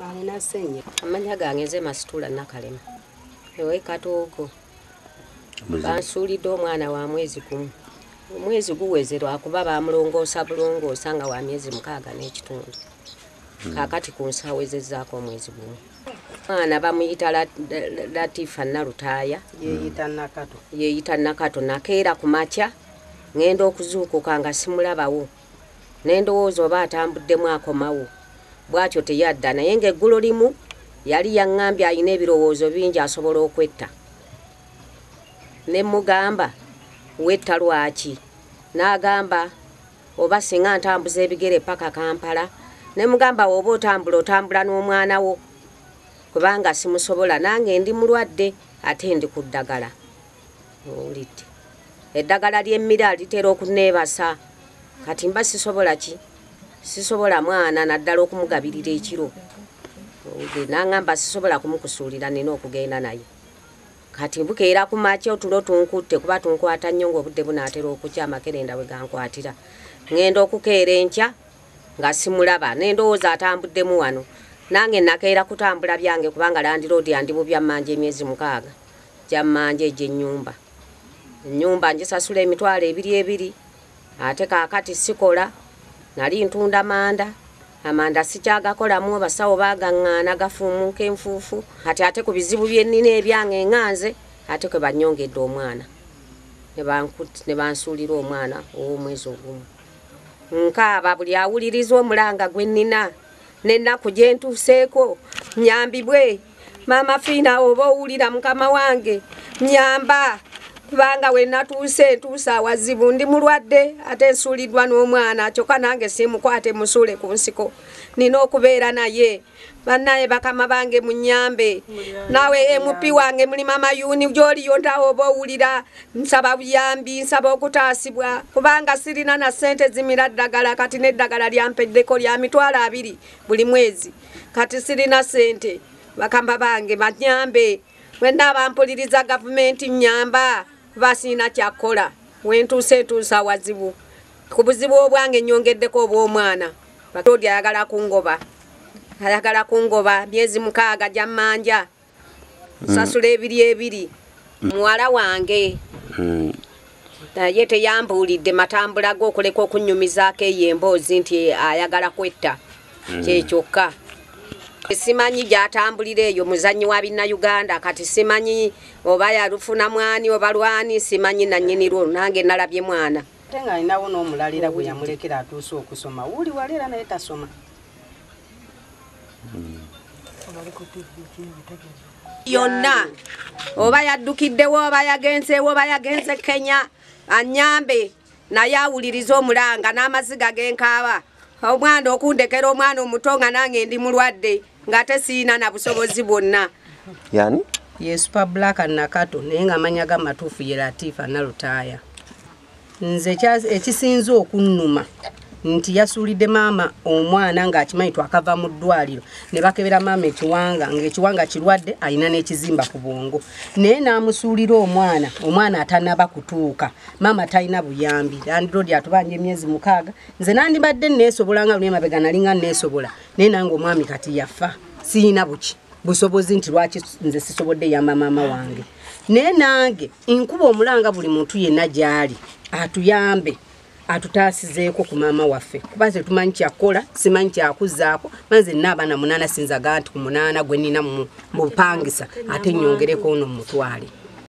alina ssenyiga amanya gange nze masitula nakalema ewe katoogo bansuulidde omwana wa mwezi gumu omwezi guweze lwakuba bamulongoosa bulongoosa nga wa myezi mukaaga n'ekitundu hmm. kakati ku nsaawo ezezzaako omwezi gumu mwana bamuyita latifa nalutaaya yeeyita nakato nakeera ku makya ŋenda okuzuukuka nga simulabawo nendowooza oba atambuddemu akomawo bwatyo teyadda naye nga eggulo limu yali yangambye alina ebirowoozo bingi asobola okwetta ne mugamba wetta lwaki n'agamba oba singa ntambuza ebigere paka kampala ne mugamba woba otambula otambula n'omwana wo kubanga simusobola nange ndi mulwadde ate ndi ku ddagala owulidde eddagala ly'emmira litera okuneebasa kati mba sisobola ki sisobola mwana naddala okumugabirira ekiro owulidde nangamba sisobola kumukusuulira nina okugenda naye kati bukeera ku makya otulo tunkutte kuba tunkwata nnyo ng'obudde bunaatera okukya amakerenda bwe gankwatira ŋŋenda okukeera enkya nga simulaba n'endowooza atambuddemu wano nange nakeera kutambula byange kubanga landiroodi andi bubyamanja emyezi mukaaga gy'ammanja egy'ennyumba. Ennyumba ngisasula emitwalo ebiri ebiri ate kaakati sikola. Nali ntunda manda, amanda sikyagakolamu, abasawo baagaŋŋaana gafuumuuka enfuufu. Kati ate ku bizibu bye nnina ebyange nga nze ate kwe bannyongedde omwana ne bansuulira omwana ow'omwezi ogumu. Nkaaba buli awuliriza omulanga gwe nnina. n'ennaku gye ntuuseeko nyambibwe maama fiina oba owulira mukama wange nyamba kubanga we natuuse ntuuse awazibu ndi mulwadde ate nsuuliddwa n'omwana kyokka nange simukwate musuule ku nsiko nina okubeera naye banaye bakama bange munyambe nawe mp wange mulima mayuni gyoliyo ntawo oba owulira nsaba buyambi nsaba okutaasibwa kubanga sirina na ssente zimira ddagala kati n'eddagala lyampeddeko lya mitwalo abiri buli mwezi kati sirina ssente bakamba bange banyambe wenna abampuliriza gavumenti nyamba kuba sirina kyakukola wentuuse ntuusa wazibu ku buzibu obwange nyongeddeko obw'omwana batodi ayagala kungoba ayagala kungoba myezi mukaaga gyammanja mm. sasula ebiri ebiri mm. muwala wange mm. naye mm. teyambuulidde matambula ge okuleka okunnyumizaako eyo emboozi nti ayagala kwetta mm. kyekyokka simanyi gyatambulira eyo muzannyi wa binnauganda kati simanyi oba yalufuna mwani oba lwani simanyi nannyini lwo nange nalabye mwana ate nga alinawo n'omulalira gwe yamulekera atuuse okusoma wuli wali era naye tasoma yonna oba yaddukiddewo oba yagenzeewo oba yagenze kenya anyambe naye awuliriza omulanga n'amaziga genkaaba omwana okundekera omwana omuto nga nange ndi mulwadde ng'ate siina na busobozi bwonna yani yesupa black nakato naye nga amanya ga matuufu ye latifa nalutaaya nze ekisinze okunnuma nti yasuulidde maama omwana ng'akimanyi twakava mu ddwaliro ne bakebera maama ekiwanga ng'ekiwanga kirwadde alina n'ekizimba ku bwongo naye n'amusuulira omwana omwana atanaba kutuuka maama talina buyambi landiroodi atubanja emyezi mukaaga nze nandibadde neesobola nga luli emabega nali nga neesobola naye nange omwami kati yafa siyina buki busobozi nti lwaki nze sisobodde yamba maama wange naye nange nkuba omulanga buli muntu yenna gyali atuyambe atutaasizeeko ku maama waffe kuba ze tumanyi kyakukola simanyi kyakuzaako manze nna abaana munaana sinzaga nti ku munaana gwe nina mu bupangisa ate nyongereko ono mumutwale